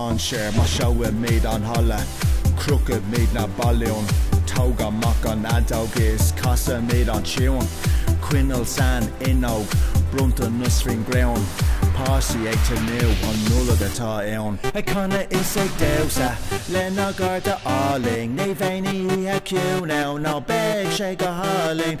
mainséar maiseoidh muid an halla crochfaidh muid na balúin tóg amach an fheadóg is casfaidh muid an tiúin coinneal san fhuinneog bronntanas faoin gcrann páistí ag tnúth an Nollaig atá ann. Ag canadh is ag damhsa lenár gcairde álainn ní bheidh aon oíche ciúin ann ná beidh sé go hálainn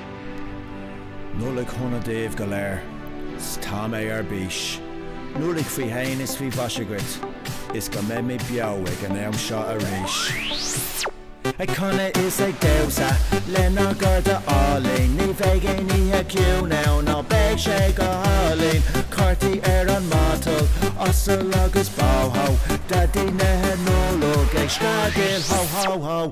Nollaig shona daoibh go léir 's tá mé ar bís! Nollaig faoi shéan is faoi mhaise dhuit is go mbeidh muid beo ag an am seo arís. Ag canadh is ag damhsa lenár gcairde álainn Ní bheidh aon oíche ciúin ann ná beidh sé go hálainn Cártaí ar an matal, asal agus bó hó Daidí na Nollag ag screadaíl hó hó hó!